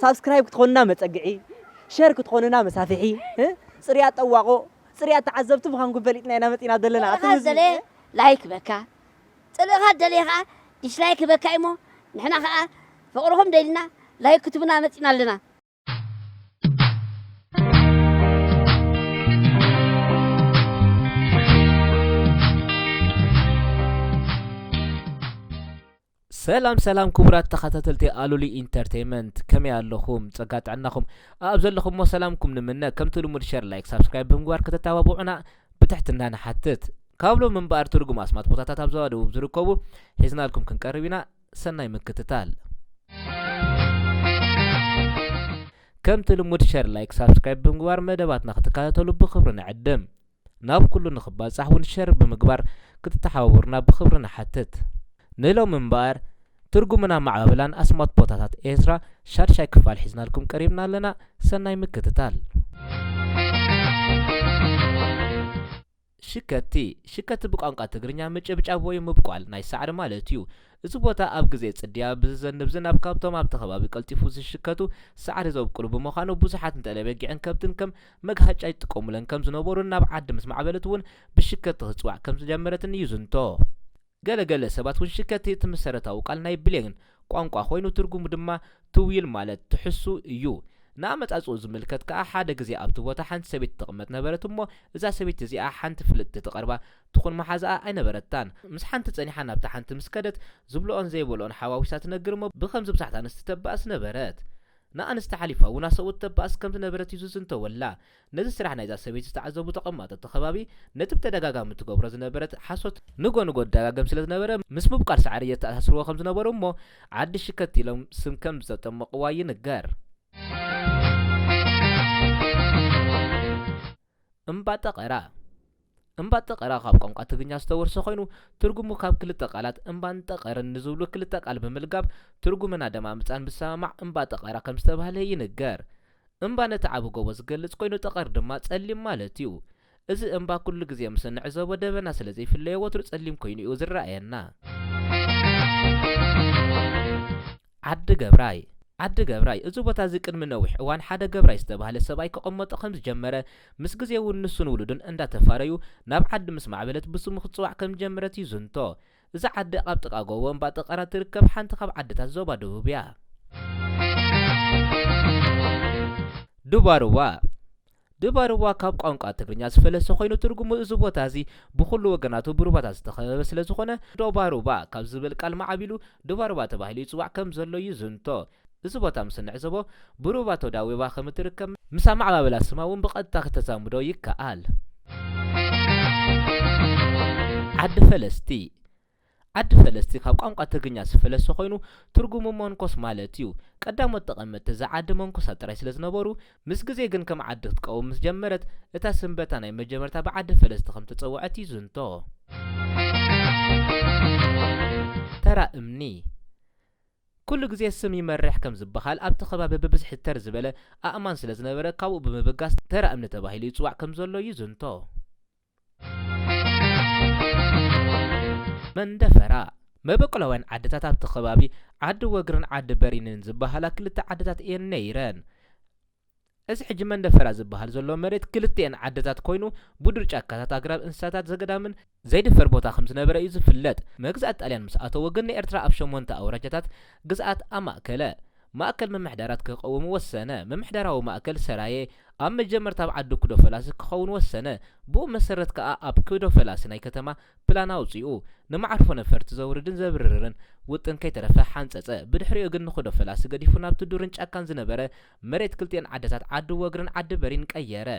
ሳብስክራይብ ክትኾኑና መፀግዒ ሸር ክትኾኑና መሳፍሒ እ? ፅርያት ጠዋቆ ፅርያት ተዓዘብቲ ምዃንኩም ፈሊጥና ኢና መፂና ዘለና ኣቲ ምዚ- ላይክ በካ ጽልእኻ ዝደለየ ከኣ ዲስላይክ ህበካ እዩሞ ንሕና ከኣ ፍቅርኹም ደሊና ላይክ ክትቡና መጺና ኣለና። ሰላም ሰላም ክቡራት ተኸታተልቲ ኣሉሊ ኢንተርቴይመንት ከመይ ኣለኹም ጸጋ ጥዕናኹም ኣብ ዘለኹሞ ሰላምኩም ንምነ ከምቲ ልሙድ ሸር ላይክ ሳብስክራይብ ብምግባር ከተተባብዑና ብትሕትና ንሓትት። ካብ ሎሚ እምበኣር ትርጉም ኣስማት ቦታታት ኣብ ዞባ ደቡብ ዝርከቡ ሒዝናልኩም ክንቀርብ ኢና። ሰናይ ምክትታል። ከምቲ ልሙድ ሸር ላይክ ሳብስክራይብ ብምግባር መደባትና ክትከታተሉ ብክብሪ ንዕድም። ናብ ኩሉ ንክባጻሕ እውን ሸር ብምግባር ክትተሓባበሩና ብክብሪ ንሓትት። ንሎሚ እምበኣር ትርጉምን ኣመዓባብላን ኣስማት ቦታታት ኤርትራ ሻድሻይ ክፋል ሒዝናልኩም ቀሪብና ኣለና። ሰናይ ምክትታል። ሽከቲ፣ ሽከቲ ብቋንቋ ትግርኛ ምጭብጫብ ወይ ምብቋል ናይ ሳዕሪ ማለት እዩ። እዚ ቦታ ኣብ ግዜ ጽድያ ብዝዘንብ ዝናብ ካብቶም ኣብቲ ከባቢ ቀልጢፉ ዝሽከቱ ሳዕሪ ዘብቁሉ ብምዃኑ ብዙሓት ንጠለበጊዕን ከብትን ከም መግሃጫ ይጥቀሙለን ከም ዝነበሩን ናብ ዓዲ ምስ ማዕበለት እውን ብሽከቲ ክትጽዋዕ ከም ዝጀመረትን ይዝንቶ። ገለ ገለ ሰባት ውን ሽከቲ እቲ ምሰረታዊ ቃል ናይ ብሌን ቋንቋ ኮይኑ ትርጉሙ ድማ ትውይል ማለት ትሕሱ እዩ። ንኣመጻጽእኡ ዝምልከት ከኣ ሓደ ግዜ ኣብቲ ቦታ ሓንቲ ሰበይቲ ትቕመጥ ነበረት እሞ እዛ ሰበይቲ እዚኣ ሓንቲ ፍልጥቲ ትቐርባ ትኹን መሓዛኣ ኣይነበረታን ምስ ሓንቲ ጸኒሓ ናብታ ሓንቲ ምስ ከደት ዝብልኦን ዘይበልኦን ሓዋዊሳ ትነግር እሞ ብኸምዚ ብዙሓት ኣንስቲ ተባእስ ነበረት ንኣንስቲ ሓሊፋ ውን ኣሰብኡት ተባእስ ከም ዝነበረት እዩ ዝዝንተወላ ነዚ ስራሕ ናይዛ ሰበይቲ ዝተዓዘቡ ተቐማጦ እቲ ከባቢ ነቲ ብተደጋጋሚ ትገብሮ ዝነበረት ሓሶት ንጎ ንጎ ትደጋግም ስለ ዝነበረ ምስ ምብቋል ሳዕሪ የተኣሳስርዎ ከም ዝነበሩ እሞ ዓዲ ሽከት ኢሎም ስም ከም ዝተጠመቕዋ ይንገር። እምባ ጠቐራ። እምባ ጠቐራ ካብ ቋንቋ ትግርኛ ዝተወርሰ ኮይኑ ትርጉሙ ካብ ክልተ ቃላት እምባን ጠቐርን ንዝብሉ ክልተ ቃል ብምልጋብ ትርጉምን ኣደማምጻን ብዝሰማማዕ እምባ ጠቐራ ከም ዝተባህለ ይንገር። እምባ ነቲ ዓቢ ጎቦ ዝገልጽ ኮይኑ ጠቐር ድማ ጸሊም ማለት'ዩ። እዚ እምባ ኩሉ ግዜ ምስ እንዕዘቦ ደበና ስለ ዘይፍለዮ ወትሩ ጸሊም ኮይኑ'ዩ ዝረኣየና። ዓዲ ገብራይ ዓዲ ገብራይ እዚ ቦታ እዚ ቅድሚ ነዊሕ እዋን ሓደ ገብራይ ዝተባህለ ሰብኣይ ክቐመጦ ከም ዝጀመረ ምስ ግዜ እውን ንሱን ውሉዱን እንዳተፋረዩ ናብ ዓዲ ምስ ማዕበለት ብስሙ ክትፅዋዕ ከም ዝጀመረት ይዝንቶ። እዛ ዓዲ ኣብ ጥቓ ጎቦ እምባ ጠቀራ እትርከብ ሓንቲ ካብ ዓድታት ዞባ ደቡብ እያ። ዱባሩዋ ድባርዋ ካብ ቋንቋ ትግርኛ ዝፈለሰ ኮይኑ ትርጉሙ እዚ ቦታ እዚ ብኹሉ ወገናቱ ብሩባታት ዝተኸበበ ስለ ዝኾነ ዶባሩባ ካብ ዝብል ቃል ማዕቢሉ ድባርዋ ተባሂሉ ይጽዋዕ ከም ዘሎ ይዝንቶ። እዚ ቦታ ምስ እንዕዘቦ ብሩባ ተዳዊባ ከም እትርከብ ምስ ኣመዓባብላ ስማ እውን ብቐጥታ ክተዛምዶ ይከኣል። ዓዲ ፈለስቲ ዓዲ ፈለስቲ ካብ ቋንቋ ትግርኛ ዝፈለሰ ኮይኑ ትርጉሙ መንኮስ ማለት እዩ። ቀዳሞት ተቐመጥቲ እዛ ዓዲ መንኮሳት ጥራይ ስለ ዝነበሩ፣ ምስ ግዜ ግን ከም ዓዲ ክትቀውም ምስ ጀመረት፣ እታ ስም በታ ናይ መጀመርታ ብዓዲ ፈለስቲ ከም እተጸውዐት ይዝንቶ። ተራ እምኒ ኩሉ ግዜ ስም ይመርሕ ከም ዝበሃል፣ ኣብቲ ከባቢ ብብዝሒ ተር ዝበለ ኣእማን ስለ ዝነበረ፣ ካብኡ ብምብጋስ ተራ እምኒ ተባሂሉ ይጽዋዕ ከም ዘሎ ይዝንቶ። መንደፈራ መበቆላውያን ዓድታት ኣብቲ ከባቢ ዓዲ ወግርን ዓዲ በሪንን ዝበሃላ ክልተ ዓድታት እየን ነይረን። እዚ ሕጂ መንደፈራ ዝበሃል ዘሎ መሬት ክልቲኤን ዓድታት ኮይኑ ብዱር ጫካታት ኣግራብ እንስሳታት ዘገዳምን ዘይድፈር ቦታ ከም ዝነበረ እዩ ዝፍለጥ። መግዛእቲ ጣልያን ምስ ኣተዎ ግን ንኤርትራ ኣብ ሸሞንተ ኣውራጃታት ግዝኣት ኣማእከለ። ማእከል ምምሕዳራት ክቐውም ወሰነ። ምምሕዳራዊ ማእከል ሰራየ ኣብ መጀመርታ ኣብ ዓዲ ኩዶፈላሲ ክኸውን ወሰነ። ብኡ መሰረት ከኣ ኣብ ኩዶፈላሲ ናይ ከተማ ፕላን ኣውጺኡ። ንመዓርፎ ነፈርቲ ዘውርድን ዘብርርርን ውጥን ከይተረፈ ሓንጸጸ። ብድሕሪኡ ግን ንኩዶፈላሲ ገዲፉ ናብቲ ዱርን ጫካን ዝነበረ መሬት ክልቲኤን ዓድታት ዓዲ ወግርን ዓዲ በሪን ቀየረ።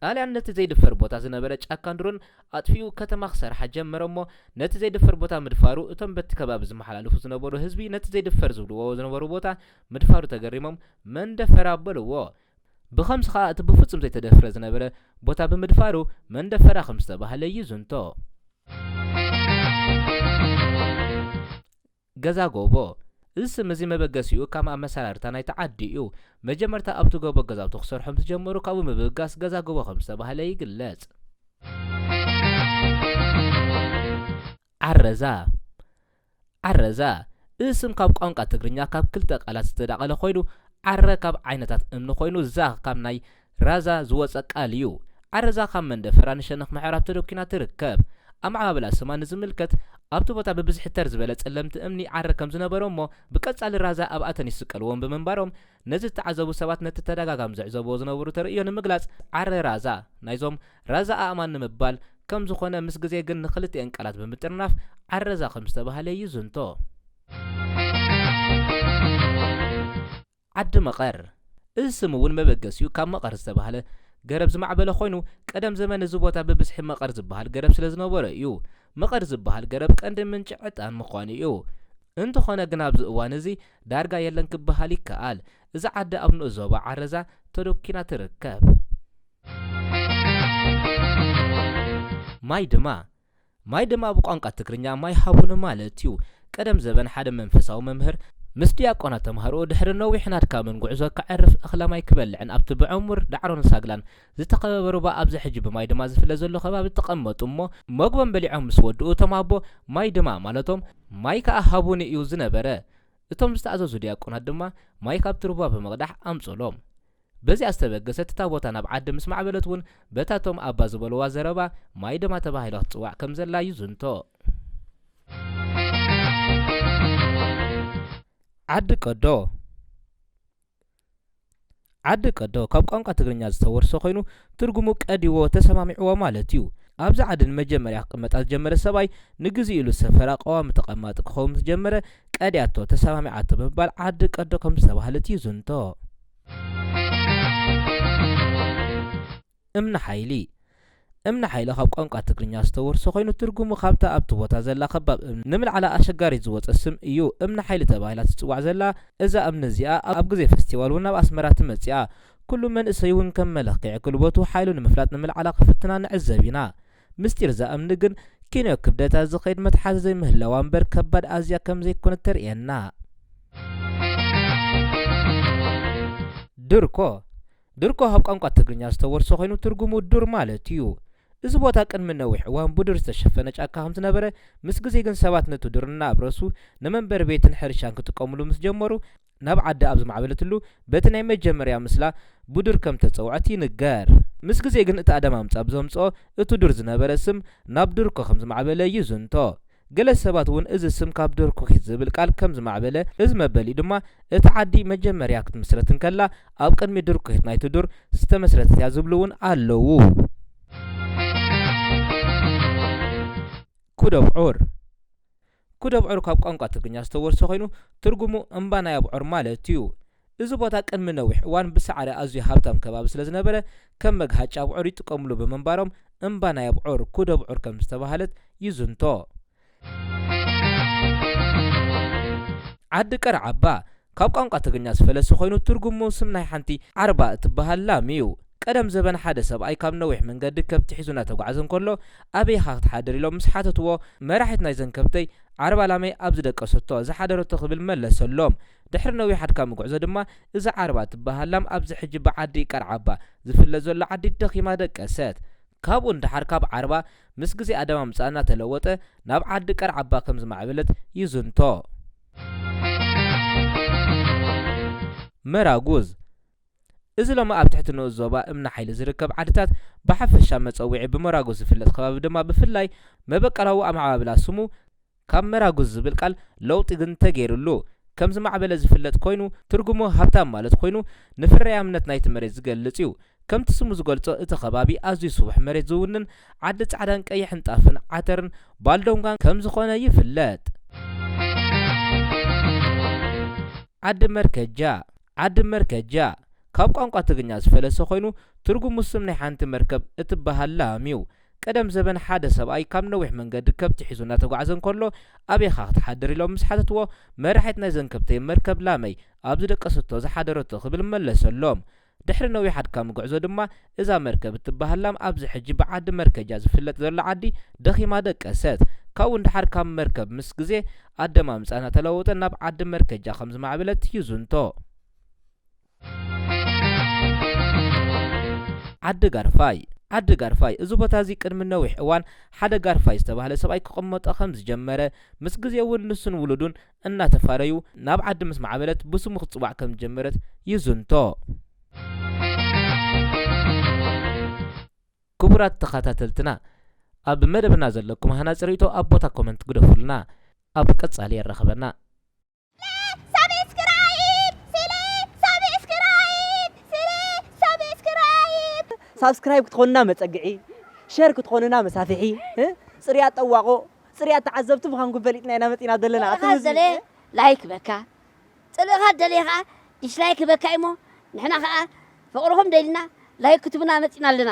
ጣልያን ነቲ ዘይድፈር ቦታ ዝነበረ ጫካን ዱርን ኣጥፊኡ ከተማ ክሰርሓ ጀመረ እሞ ነቲ ዘይድፈር ቦታ ምድፋሩ እቶም በቲ ከባቢ ዝመሓላለፉ ዝነበሩ ህዝቢ ነቲ ዘይድፈር ዝብልዎ ዝነበሩ ቦታ ምድፋሩ ተገሪሞም መን ደፈራ በልዎ ብኸምዚ ከኣ እቲ ብፍጹም ዘይተደፍረ ዝነበረ ቦታ ብምድፋሩ መን ደፈራ ከምዝተባህለ ይዝንቶ። ገዛ ጎቦ፣ እዚ ስም እዚ መበገሲኡ ካም ኣመሰራርታ ናይቲ ዓዲ እዩ። መጀመርታ ኣብቲ ጎቦ ገዛውቲ ክሰርሑ ምስ ጀመሩ ካብኡ ምብጋስ ገዛ ጎቦ ከም ዝተባህለ ይግለጽ። ዓረዛ፣ ዓረዛ፣ እዚ ስም ካብ ቋንቃ ትግርኛ ካብ ክልተ ቃላት ዝተዳቐለ ኮይኑ ዓረ ካብ ዓይነታት እምኒ ኮይኑ ዛ ካብ ናይ ራዛ ዝወጸ ቃል እዩ። ዓረዛ ካብ መንደፈራ ንሸነኽ ምዕራብ ተደኲና ትርከብ። ኣመዓባብላ ስማ ንዝምልከት፣ ኣብቲ ቦታ ብብዝሒ ተር ዝበለ ጸለምቲ እምኒ ዓረ ከም ዝነበሮ እሞ ብቀጻሊ ራዛ ኣብኣተን ይስቀልዎም ብምንባሮም ነዚ ዝተዓዘቡ ሰባት ነቲ ተደጋጋሚ ዝዕዘብዎ ዝነበሩ ተርእዮ ንምግላጽ ዓረ ራዛ ናይዞም ራዛ ኣእማን ንምባል ከም ዝኾነ ምስ ግዜ ግን ንክልቲኤን ቃላት ብምጥርናፍ ዓረዛ ከም ዝተባህለ ይዝንቶ። ዓዲ መቐር፣ እዚ ስም እውን መበገሲኡ ካብ መቐር ዝተባህለ ገረብ ዝማዕበለ ኮይኑ፣ ቀደም ዘመን እዚ ቦታ ብብዝሒ መቐር ዝበሃል ገረብ ስለ ዝነበሮ እዩ። መቐር ዝበሃል ገረብ ቀንዲ ምንጪ ዕጣን ምዃኑ እዩ። እንተኾነ ግን ኣብዚ እዋን እዚ ዳርጋ የለን ክበሃል ይከኣል። እዛ ዓዲ ኣብ ንኡስ ዞባ ዓረዛ ተደኲና ትርከብ። ማይ ድማ ማይ ድማ ብቋንቋ ትግርኛ ማይ ሃቡኒ ማለት እዩ። ቀደም ዘበን ሓደ መንፈሳዊ መምህር ምስ ዲያቆናት ተማሃሮኡ ድሕሪ ነዊሕን ኣድካምን ጉዕዞ ከዕርፍ እኽለ ማይ ክበልዕን ኣብቲ ብዕሙር ዳዕሮን ሳግላን ዝተኸበበ ሩባ ኣብዚ ሕጂ ብማይ ድማ ዝፍለ ዘሎ ከባቢ ተቐመጡ እሞ መግቦም በሊዖም ምስ ወድኡ እቶም ኣቦ ማይ ድማ ማለቶም ማይ ከኣ ሃቡኒ እዩ ዝነበረ እቶም ዝተኣዘዙ ዲያቆናት ድማ ማይ ካብቲ ሩባ ብምቕዳሕ ኣምጹሎም በዚኣ ዝተበገሰት እታ ቦታ ናብ ዓዲ ምስ ማዕበለት እውን በታ እቶም ኣባ ዝበሉዋ ዘረባ ማይ ደማ ተባሂላ ክትጽዋዕ ከም ዘላ እዩ ዝንቶ። ዓዲ ቀዶ ዓዲ ቀዶ ካብ ቋንቋ ትግርኛ ዝተወርሰ ኮይኑ ትርጉሙ ቀዲዎ ተሰማሚዕዎ ማለት እዩ። ኣብዚ ዓዲ ንመጀመርያ ክቕመጣ ዝጀመረ ሰብኣይ ንግዜኡ ኢሉ ሰፈራ ቀዋሚ ተቐማጢ ክኸውን ምስ ጀመረ ቀዲኣቶ፣ ተሰማሚዓቶ፣ ብምባል ዓዲ ቀዶ ከም ዝተባህለት እዩ ዝንቶ። እምኒ ሓይሊ እምኒ ሓይሊ ካብ ቋንቋ ትግርኛ ዝተወርሰ ኮይኑ ትርጉሙ ካብታ ኣብቲ ቦታ ዘላ ከባብ እምኒ ንምልዓላ ኣሸጋሪት ዝወፀ ስም እዩ። እምኒ ሓይሊ ተባሂላ ትፅዋዕ ዘላ እዛ እምኒ እዚኣ ኣብ ግዜ ፈስቲቫል እውን ናብ ኣስመራ ትመፅእ እያ። ኩሉ መንእሰይ እውን ከም መለክዒ ጉልበቱ ሓይሉ ንምፍላጥ ንምልዓላ ክፍትና ንዕዘብ ኢና። ምስጢር እዛ እምኒ ግን ኪኖ ክብደታ ዝኸይድ መትሓዚ ዘይምህላዋ እምበር ከባድ ኣዝያ ከም ዘይኮነት ተርእየና። ድርኮ ድርኮ ካብ ቋንቋ ትግርኛ ዝተወርሰ ኮይኑ ትርጉሙ ዱር ማለት እዩ። እዚ ቦታ ቅድሚ ነዊሕ እዋን ብዱር ዝተሸፈነ ጫካ ከም ዝነበረ ምስ ግዜ ግን ሰባት ነቲ ዱር እናኣብረሱ ንመንበሪ ቤትን ሕርሻን ክጥቀምሉ ምስ ጀመሩ ናብ ዓዳ ኣብ ዝማዕበለትሉ በቲ ናይ መጀመርያ ምስላ ቡዱር ከም እተጸውዐት ይንገር። ምስ ግዜ ግን እቲ ኣደማምጻ ብዘምጽኦ እቲ ዱር ዝነበረ ስም ናብ ዱርኮ ከም ዝማዕበለ ይዝንቶ። ገለ ሰባት እውን እዚ ስም ካብ ዶርኩኺት ዝብል ቃል ከም ዝማዕበለ እዚ መበሊኡ ድማ እታ ዓዲ መጀመርያ ክትምስረት እንከላ ኣብ ቅድሚ ዱርኩኺት ናይቲ ዱር ዝተመስረተት እያ ዝብሉ እውን ኣለዉ። ኩዶብዑር ኩድ ኣብዑር ካብ ቋንቋ ትግርኛ ዝተወርሰ ኮይኑ ትርጉሙ እምባ ናይ ኣብዑር ማለት እዩ። እዚ ቦታ ቅድሚ ነዊሕ እዋን ብሳዕሪ ኣዝዩ ሃብታም ከባቢ ስለዝነበረ ከም መግሃጫ ኣብዑር ይጥቀምሉ ብምንባሮም እምባ ናይ ኣብዑር፣ ኩድ ኣብዑር ከምዝተባህለት ይዝንቶ። ዓዲ ቀርዓባ ካብ ቋንቋ ትግርኛ ዝፈለሰ ኮይኑ ትርጉሙ ስም ናይ ሓንቲ ዓርባ እትበሃል ላም ኢዩ። ቀደም ዘበን ሓደ ሰብኣይ ካብ ነዊሕ መንገዲ ከብቲ ሒዙ እናተጓዕዘ እንከሎ ኣበይ ኢኻ ክትሓድር ኢሎም ምስ ሓተትዎ መራሒት ናይዘን ከብተይ ዓርባ ላመይ ኣብ ዝደቀሰቶ ዝሓደረቶ ክብል መለሰሎም። ድሕሪ ነዊሕ ኣድካሚ ጉዕዞ ድማ እዛ ዓርባ እትበሃል ላም ኣብዚ ሕጂ ብዓዲ ቀርዓባ ዝፍለጥ ዘሎ ዓዲ ደኺማ ደቀሰት። ካብኡ ንደሓር ካብ ዓርባ ምስ ግዜ ኣደማምጽኣ እናተለወጠ ናብ ዓዲ ቀርዓባ ከም ዝማዕበለት ይዝንቶ። መራጉዝ እዚ ሎሚ ኣብ ትሕቲ ንኡስ ዞባ እምኒ ሓይሊ ዝርከብ ዓድታት ብሓፈሻ መጸውዒ ብመራጉዝ ዝፍለጥ ከባቢ ድማ ብፍላይ መበቀላዊ ኣመዓባብላ ስሙ ካብ መራጉዝ ዝብል ቃል ለውጢ ግን ተገይርሉ ከም ዝማዕበለ ዝፍለጥ ኮይኑ ትርጉሙ ሃብታም ማለት ኮይኑ ንፍርያምነት ናይቲ መሬት ዝገልጽ እዩ። ከምቲ ስሙ ዝገልጾ እቲ ከባቢ ኣዝዩ ስቡሕ መሬት ዝውንን ዓዲ ጻዕዳን ቀይሕን ጣፍን ዓተርን ባልዶንጋን ከም ዝኾነ ይፍለጥ። ዓዲ መርከጃ ዓዲ መርከጃ ካብ ቋንቋ ትግርኛ ዝፈለሰ ኮይኑ ትርጉሙ ስም ናይ ሓንቲ መርከብ እትበሃል ላም እዩ። ቀደም ዘበን ሓደ ሰብኣይ ካብ ነዊሕ መንገዲ ከብቲ ሒዙ እናተጓዕዘ እንከሎ ኣበይኻ ክትሓድር ኢሎም ምስ ሓተትዎ መራሒት ናይዘን ከብተይ መርከብ ላመይ ኣብ ዝደቀሰቶ ዝሓደረቶ ክብል መለሰሎም። ድሕሪ ነዊሕ ኣድካሚ ጉዕዞ ድማ እዛ መርከብ እትበሃል ላም ኣብዚ ሕጂ ብዓዲ መርከጃ ዝፍለጥ ዘሎ ዓዲ ደኺማ ደቀሰት። ካብኡ ንደሓር ካብ መርከብ ምስ ግዜ ኣደማምጻኣ እናተለዋወጠ ናብ ዓዲ መርከጃ ከም ዝማዕበለት ይዝንቶ። ዓዲ ጋርፋይ ዓዲ ጋርፋይ እዚ ቦታ እዚ ቅድሚ ነዊሕ እዋን ሓደ ጋርፋይ ዝተባህለ ሰብኣይ ክቕመጦ ከም ዝጀመረ ምስ ግዜ እውን ንሱን ውሉዱን እናተፋረዩ ናብ ዓዲ ምስ ማዕበለት ብስሙ ክትጽዋዕ ከም ዝጀመረት ይዝንቶ። ክቡራት ተኻታተልትና ኣብ መደብና ዘለኩም ሃናጺ ርእይቶ ኣብ ቦታ ኮመንት ግደፉልና። ኣብ ቀጻሊ የራኽበና። ሳብስክራይብ ክትኾኑና መጸግዒ፣ ሸር ክትኾኑና መሳፍሒ፣ ጽርያት ጠዋቑ፣ ጽርያት ተዓዘብቲ ምዃንኩም ፈሊጥና ኢና መጺእና ዘለና። እቲ ጠለኻ ዝደለየ ህዝቢ ላይክ ህበካ፣ ጠለኻ ዝደለየ ከኣ ዲስላይክ ህበካ እዩ'ሞ ንሕና ከኣ ፍቕርኹም ደሊና ላይክ ክትቡና መጺእና ኣለና።